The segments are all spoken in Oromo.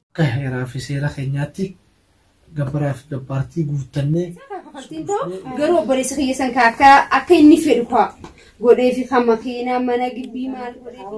akka heeraa fi seera keenyaatti gabbaraa fi gabbaartii guuttannee Fakkiin ta'u garuu obboleessa kiyya san kaa akka akka inni fedhu kaa godhee fi kan makiinaa mana gibbii maal godhee fi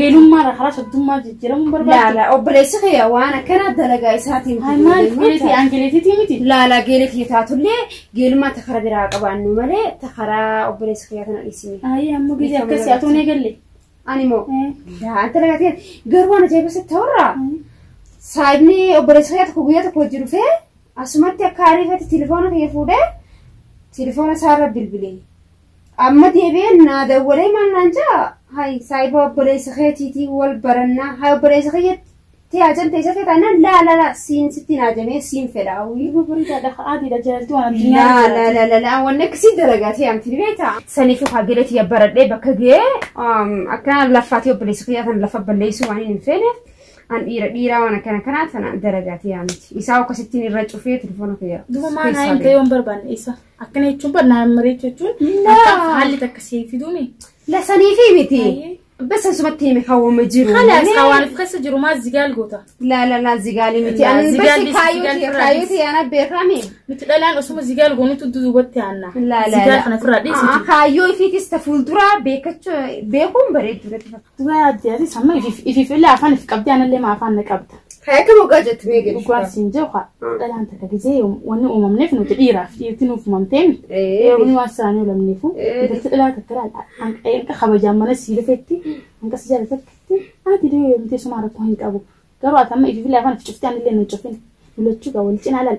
Geelummaadha karaa soddummaa jijjiiramuun barbaaddi. Laala obboleessi kee waan akkanaa dalagaa isaatiin Maaliif geeletii aangeeleetiitii miti? Laala geela kee taatullee geelummaa ta karaa biraa qabaannu malee ta karaa obboleessi kee kana dhiisine. Ayi amma gidi akkasii atoon eegalle. Ani moo yaa dalagaa ta'e garuu waan ajaa'ibaa sitti ta'urraa saayibni obboleessi kee tokko guyyaa tokko hojii dhufee Asumatti akka ariifatti tilifoona kiyya fuudhee tilifoona isaarra bilbile. Amma deebi'ee naa dawwalee maal naan ja'a? Hayi saayiba obboleessa keetiitii wal barannaa. Hayi obboleessa kiyyatti tiyaajan teessa kee taanaan laa laa laa siin sitti naa jamee siin fedha. Wii. Nama bareedaadha haadhiidha jaaltuu waan addunyaa Laa irratti laa laa laa laa wanni akkasii dalagaa ta'e amti ni beektaa? Saniif hagile tiyya baradhee bakka ga'ee akkana laffaatii obboleessa kiyyaa kan lafa balleessuu waan hin feeneef An dhiira dhiiraa waan akkana kanaa sana daragaatee yaa miti. Isaa akkasittiin irra cufee telefoona kiyya. Duba maa naa himte yoon barbaanne isa. Akkana jechuun bar naa mareechu jechuun Laa. akka haalli takka siif fiduumi. Lasanii fi miti. Ayyee. Basa sumatti hime hawwama jiru. Kalaas Mee- hawaaniif keessa jiru maa zigaal goota. La la la zigaali miti. La, An zigaali, basi zigaali kaayyooti irraa kaayyooti dhiisi. yaana beekame. Miti dhalaan osuma zigaal goonutu duubatti aanna. La la Zigaal la. kana ofirraa dhiisi. Ah, Kaayyoo ifiitis ta fuulduraa beekachuu beekuun bareedduu natti fakkaata. Subaa adde aziz amma ifif ifif illee afaan if qabdee anallee maa afaan na qabda. Kan akka mogaa jettu mee gadi. Dhugaan siin jee haa dhalaan takka gizee wanni uumamneef nuti dhiiraaf dhiirti nuuf uumamtee miti. Dhiironni waan isaanii uumamneefu intalti dhalaa takka laala hanqa kabajaan mana sii dhufetti hanqa si jaala takkitti ati dee yoomtee sumaa rakkoo hin qabu. Garuu ati amma ifif illee afaan if cuftee anallee na hin cufin. Mulachuu gaa wal cinaa laala.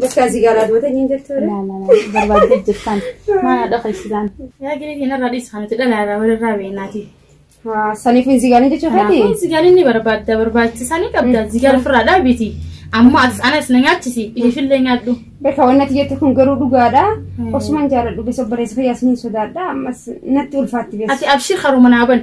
Bakka asii gaalaa dubatee hin jirtu. Laa laa laa barbaadde jirtaan. Maana dhaqa isilaan. Yaa gadi hin irraa dhiis kan nuti dhalaa irraa wal irraa beeknaati. Saniif hin zigaanii jechuu feeti. Kanaafuu zigaalii ni barbaadda barbaachisaa ni qabda zigaal ofirraa dhaabiti. Ammoo as anas na nyaachisi ilifillee nyaadhu. Bakka wanni ati jette kun garuu dhugaadha. Osumaan jaaladhu beessa obboleessa fayyaas ni sodaadha. Ammas natti ulfaatti beessa. Ati abshir haruma naa bana.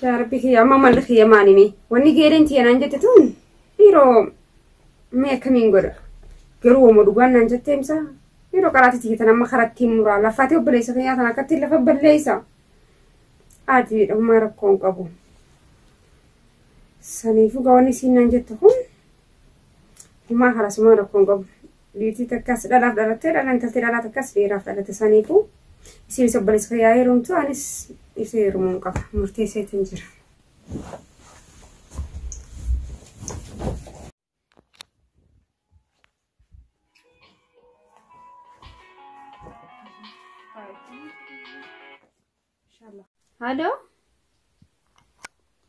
Shaarbii kiyya amma malli kiyya maalimi? Wanni geereen tiyya naan jette tun dhiiroo mee akkamiin godha? Garuu wama dhugaan naan jettee himsa. Dhiiroo qaraati tiyya tan amma karattiin muraa lafaatee obboleessa kiyyaa tan akkattiin lafa balleessa. Aadii dhummaa rakkoo hin qabu. Saniifuu gawanni isiin naan jette kun humaa harasumaa rakkoo hin qabu. Niitii takkaas dhalaaf dhalattee dhala intalti dhalaa takkaas dhiiraaf dhalatte saniifuu isiinis obboleessa kiyyaa heerumtu anis isii heerumuun qaba murteesseetiin jira. Halo.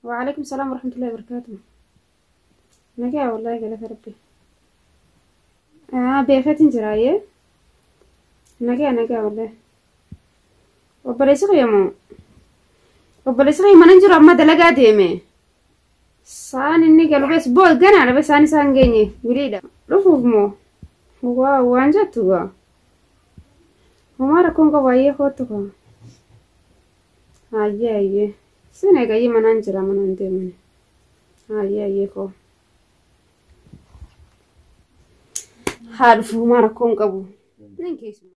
Waalaikum salam warahmatullahi wabarakatuh. Nagaa wallahi galata rabbi. Ah beekatin jira yee. Nagaa nagaa wallahi. Obboleessi kiyya moo? Obboleessi kiyya mana hin jiru amma dalagaa deeme. Saan inni galu bees boo ganaadha bees saan isaan geenye wiliidha. Dhufuuf moo? Waa waan jettu gaa. Homaa rakkoon qabu hayyee koottu koo. Hayyee hayyee. Sin eegayyee manaan jira manaan deemani. Hayyee hayyee koo. Haa dhufu homaa rakkoon qabu. Nan keessumaa.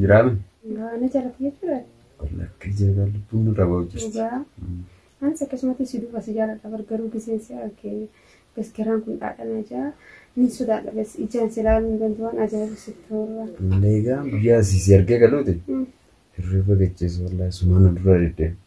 Jiraame. Gaana jalatti jechuudha. Lakki jeegaa lubbuun nurraa ba'u jirti. Dhugaa. Anis akkasumatti si duuba si jaaladha bar garuu giseen si arge bas garaan kun dhaadhana jaa nin sodaadha bas ijaan si laaluu hin danda'u waan ajaa'ibu si toora. Leegaa guyyaa asii si argee galuuti. Hirriba gaggeessu wallaahi sumaan na dura deddeema.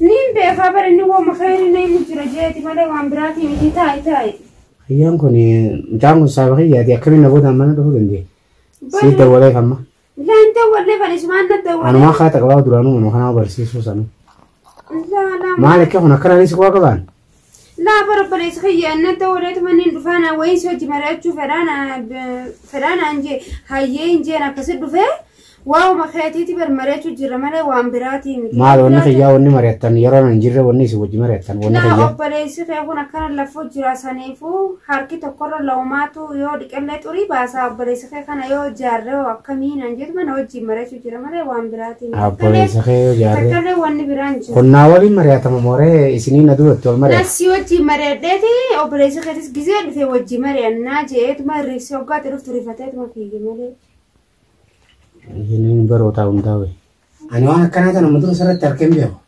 Niin beekaa bara inni wooma khayrii na himu jira jeeti malee waan biraatii miti taa'i taa'i. Kiyyaan kun mucaan kun saaba kiyyaati akkamiin na boodaan mana dhufuu danda'e? Sii dawwalee kamma. Laan dawwallee bani sumaan na dawwalee. Anumaa kaa taqabaa duraanuu manuma kanaa barsiisuu sanuu. Laa laa. Maal akka kun akkanaanis koo qabaan? Laa bara obboleessa kiyya annan ta'uu dheetu manneen dhufaa naa wayiin si hojji mari'achuu fedhaa naa fedhaa naan jee hayyee hin jeen akkasi dhufee waa'uma keetiiti bar mari'achuu jirra malee waan biraatii miti. Maal wanni kiyyaa wanni mari'attan yeroo nan jirre wanni isin wajji mari'attan wanni Laa kiyyaa. obboleessi kee kun akkana lafuu jira saniifuu harki tokkorra laumaatu yoo dhiqellee xurii baasaa obboleessi kee kana yoo jaarree hoo akkamii naan jeetu mana wajjin mari'achuu jira malee waan biraatiin hin Abboleessa kee yoo jaarre. Takkallee wanni biraa hin jiru. Qonnaa waliin mari'atama mooree isinii na duratti ol mari'ata. Nassi wajjin mari'adheeti obboleessi keetis gisee dhufe wajjin mari'annaa jeetuma riifsi hoggaatti dhuftu rifateetuma fiige malee. Inni barootaa hundaa'e. Ani waan akkanaa kana muduruu sirratti harkeen beeku.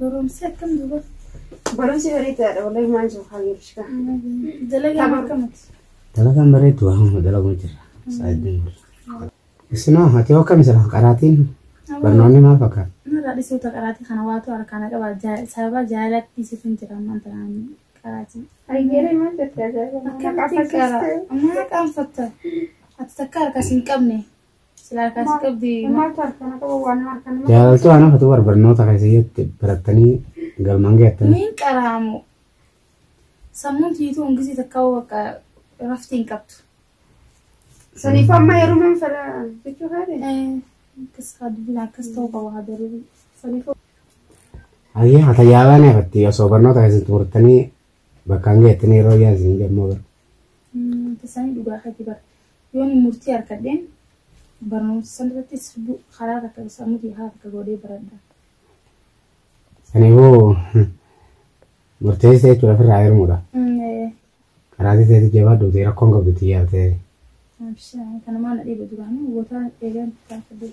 Barumsi akkam duba? Barumsi barii ta'adha wallahi maan jiru haa geerish kan. Dalagaan akkamati? Dalagaan bareedu waan dalaguu jirra. Saayidiin bula. Isinoo ati hoo akkami jira qaraatiin barnoonni maal fakkaata? Narraa dhisuu ta qaraatii kana waatu harkaana qaba sababa jaalatti sifin jira ammaan tanaan qaraatii. Ayyeeree maal jettee ajaa'ibaa? Akkamitti qara? Ammaa qaanfatta. Ati takka harkas hin qabne. Silaa kaas qabdi. Jaalaltuu ana fatu barbarnoota keessatti barattanii galmaan geettanii. Miin qaraamu. Sammuun tiituu hungisii takka hoo bakka rafti hin qabdu. Saniif amma heerumaan fedha jechuu kaadhe. Akkas haa dubbina akkas ta'uu qaba haa darbii. Saniif Ayyaa tajaajilaa ni hafatti osoo barnoota keessatti murtanii bakkaan geettanii yeroo yaansi hin jedhamu. Tasanii dhugaa keetii bar yoon murtii harkadheen barnoomsa san irrattis karaa takka sammuu kiyya karaa takka godhee baradha. Saniifuu murteessee jechuudha ofirraa hirmuudha. Karaatii ta'etti jabaadhu ta'e rakkoon qabdu xiyyaara ta'e. Kanumaan na dhiiba duraanii gotaa eegan taasisu.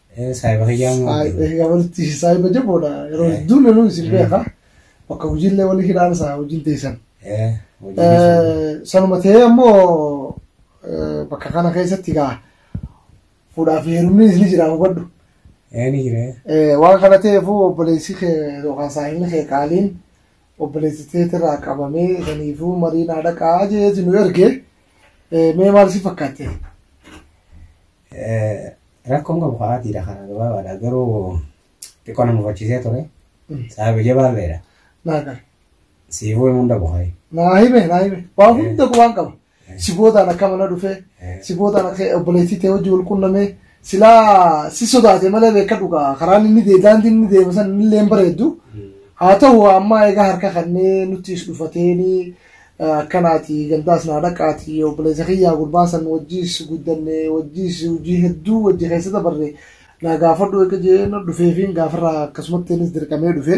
Saayiba kiyyaa moo. Egaa walitti saayiba jaboodha. Yeroo hedduu loluu isin beeka. Bakka hojiillee walii hidhaan isaa hojiin teessan. Sanuma ta'ee ammoo bakka kana keessatti gaa fuudhaa fi heerumni ni jira hubadhu. Ni jira. Waan kana ta'eefuu obboleessi kee yookaan saahilli kee qaaliin obboleessi teetirraa qabamee saniifuu marii naa dhaqaa jeeti nu erge mee maal si fakkaatte? Rakkoon qabu karaa dhiira kana gabaabaadha garuu xiqqoo na mufachiisee ture. Sababi jabaalleedha. Naa gara. Siifuu himuun dhabu hayi. Naa hime naa hime. Waan hunda qubaan qaba. Si boodaan akka mana dhufee. Si boodaan akka obboleettii ta'e hojii wal qunnamee. Silaa si sodaate malee beeka dhugaa karaan inni deemu daandiin inni deemu san inni illee hin bareeddu. Haa ta'u ammaa egaa harka kannee nuttiis dhufateeni Akkanaati gandaas naa dhaqaati obboleessa kiyyaa gurbaa san wajjiis guddanne wajjiis hojii hedduu wajji keessa dabarre naa gaafadhu eega jeen dhufeefiin gaafarraa akkasumatti innis dirqamee dhufe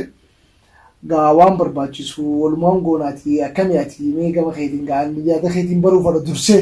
gaa waan barbaachisu walumaan goonaati akkami ati mee gama keetiin gaa yaada keetiin baruu fadha dursee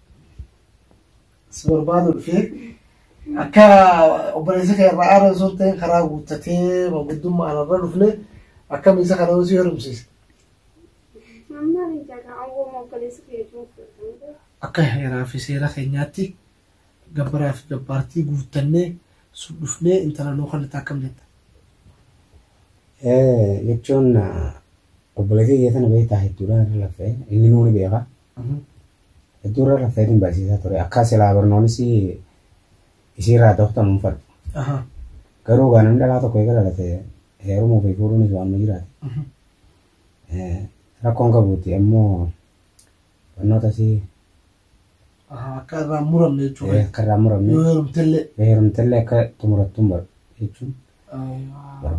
si barbaadu dhufee akka obboleessi kee irraa aara osoo ta'e karaa guuttatee manguddummaa anarra dhufne akkamiin isa kana osoo heerumsiise. Amma ni jaga awwoo obboleessi kee jiru fudhatanii Akka heeraa fi seera keenyaatti gabbaraa fi gabbaartii guuttannee sun dhufnee intala nuu kan akkam jetta. Eh, jechuun ah, obboleettii kee sana beektaa hedduudhaan irra lafee inni nuuni beeka Hedduu irra raffeetiin barsiisaa ture. Akka silaa barnoonis isiirraa dokta muunfadhu. Garuu gaa namni dhalaa tokko eega dhalate heerumuu fi fuudhuunis waan nu jiraate. Rakkoon qabuuti ammoo barnoota si Akka irraa hin muramne jechuudha. akka irraa muramne Yoo heerumtellee. heerumtellee akka xumurattuun bar jechuun.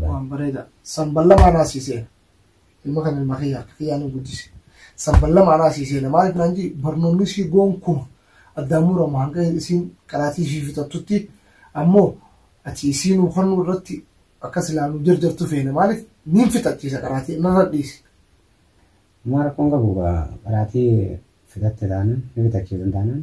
Waan bareeda. Sanballabaa naasisee. ilma kan ilma kiyya akka kiyyaa nu guddise san balla maanaa sii seena maaliif naan jii barnoonni sii goon kuma addaan muramu hanga isiin qaraatii ishii fixattutti ammoo ati isii nuu kennuu irratti akka silaa nu jarjartu feena maaliif niin fixachiisa qaraatii narra dhiisi. Homaa rakkoon qabu qaraatii fixatte taanaan ni fixachiisan taanaan